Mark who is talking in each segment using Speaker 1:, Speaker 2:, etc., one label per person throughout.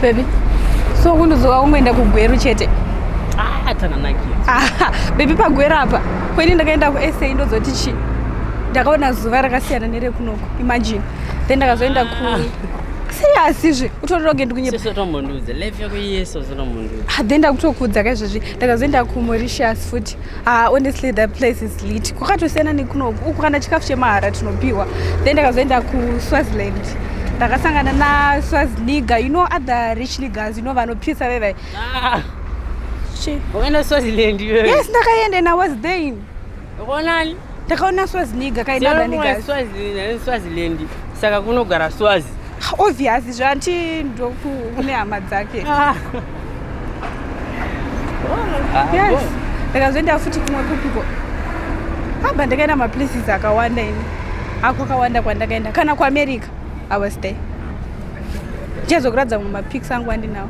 Speaker 1: Baby, so kundozowa kungoenda kugweru chete. Ah, takanakira. Ah, baby pagweru apa. Kweni ndakaenda kuSA ndozoti chi. Ndakaona zuva rakasiyana nerekunoku. Imagine. Then ndakazoenda ku ah. Serious zve. Utorero ngendi kunyepa. Sisi tombonduze. Life
Speaker 2: yako yeso zinombonduze. Ah, then ndakutokudza
Speaker 1: kaizvezvi. Ndakazoenda ku Mauritius futi. Ah, honestly the place is lit kwakatosiyana nekunoku uku kana chikafu chemahara tinopiwa then ndakazoenda kuswaziland ndakasangana naswaziniga you know other rich niggers you know vanopisa vevai Ah, Chi-
Speaker 2: ukaenda swaziland iwewe yes ndakaenda and i was
Speaker 1: there ukaonani
Speaker 2: takaona
Speaker 1: swaziniga kaidadanigaswaziland
Speaker 2: saka kunogara swazi obvious
Speaker 1: zvanti ndokune hama dzake ah. ah, yes ndakazoenda futi kumwe kupiko aba ndakaenda maplaces akawanda ini ako akawanda kwandakaenda kana kuamerica i was there ndichazokuratidza mumapix angu andinawo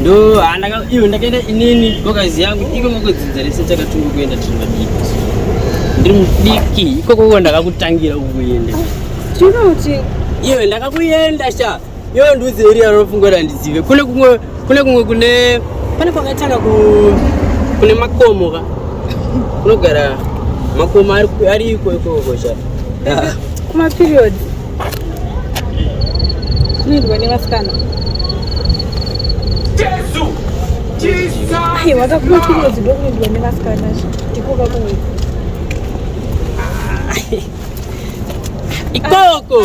Speaker 2: ndo handaka ah, iwe ndakaenda inini gokazi yangu iko ngokudzidza rese takatunga kuenda tiri madiki ndiri mudiki ikoko ko ndakakutangira ukuenda tinoti
Speaker 1: iwe
Speaker 2: ndakakuenda sha iwe ndiudze iri yarofunga kuti handizive kune kumwe kune kumwe kune pane kwakaitana kune makomo ka kunogara makomo ariko ikoko sha
Speaker 1: kumaperiodi Zvinoitwa nevasikana. Jesu! Jesus! Ai, wakakuwa chimwe zido kunoitwa nevasikana ndikoka kunoitwa.
Speaker 2: Ikoko!